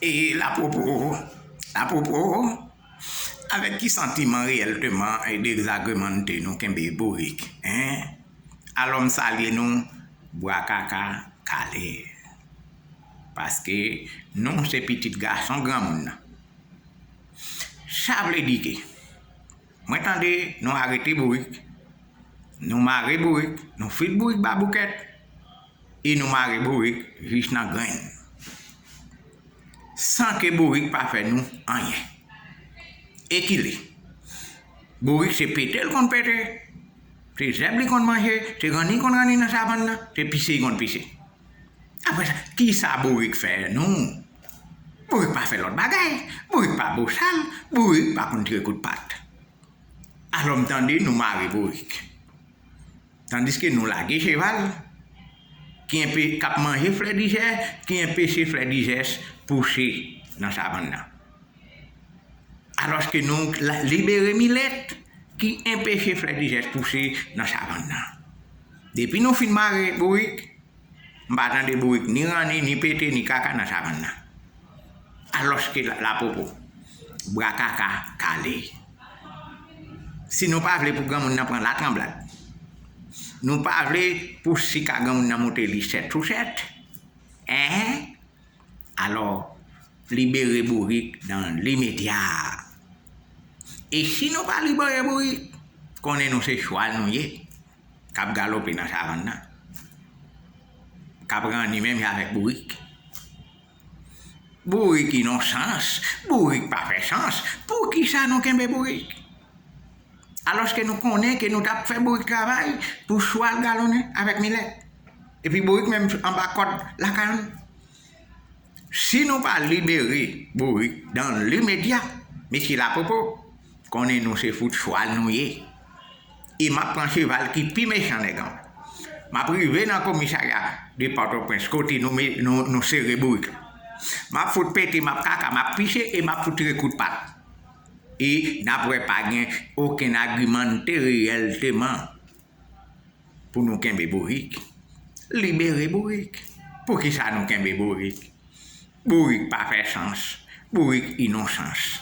E lapropo, apropo, avèk ki santiman reyèlteman dezagreman'te nou kenbe bourik, hein? Alò m salye nou bwa kaka kale. Paske nou se pitit gason granmoun nan. Sa vle di ke mwen tande nou arete bourik, nou mare bourik, nou fout bourik baboukèt. E nou mare bourik jis nan grenn. San ke bourik pa fè nou anyen. E ki li? Bourik se pete l konn pete, se zèb li konn manje, se ranni l konn ranni nan savann nan, se pise li konn pise. Apre sa, ki sa bourik fè nou? Bourik pa fè lòt bagay. Bourik pa bosal. Bourik pa konn tire kout pat. Alò m tande nou mare bourik. Tandiske nou lage cheval ki enpe k ap manje flèdijè ki enpeche flèdijès pouche nan savann nan. Alòske nou libere milèt ki enpeche flèdijès pouche nan savann nan. Depi nou fin mare bourik, m pa tande bourik ni ranni, ni pete, ni kaka nan savann nan. Alòske lapopo, bra kaka kale. Si nou pa vle pou granmoun nan pran latranblad, nou pa vle pou sika granmoun nan moute li sèt sou sèt, enhen, alò libere bourik dan limedya. E si nou pa libere bourik, konnen nou se chwal nou ye k ap galope nan savann nan, k ap ranni menm jan avèk bourik. Bourik inonsans, bourik pa fè sans, poukisa nou kenbe bourik? Alòske nou konnen ke nou t ap fè bourik travay pou chwal galonnen avèk milèt. Epi bourik menm anba kòd lakay nou. Si nou pa libere bourik dan limedya, mesye lapopo. Konnen nou se fout chwal nou ye e m ap pran cheval ki pi mechan nèg anba. M ap rive nan komisarya de Pòtoprens kote nou sere bourik la. M ap fout pete, m ap kaka, m ap pise e m ap fout tire kout pat. E n ap wè pa gen okenn agimante reyèlteman pou nou kenbe bourik. Libere bourik! Poukisa nou kenbe bourik? Bourik pa fè sans. Bourik inonsans.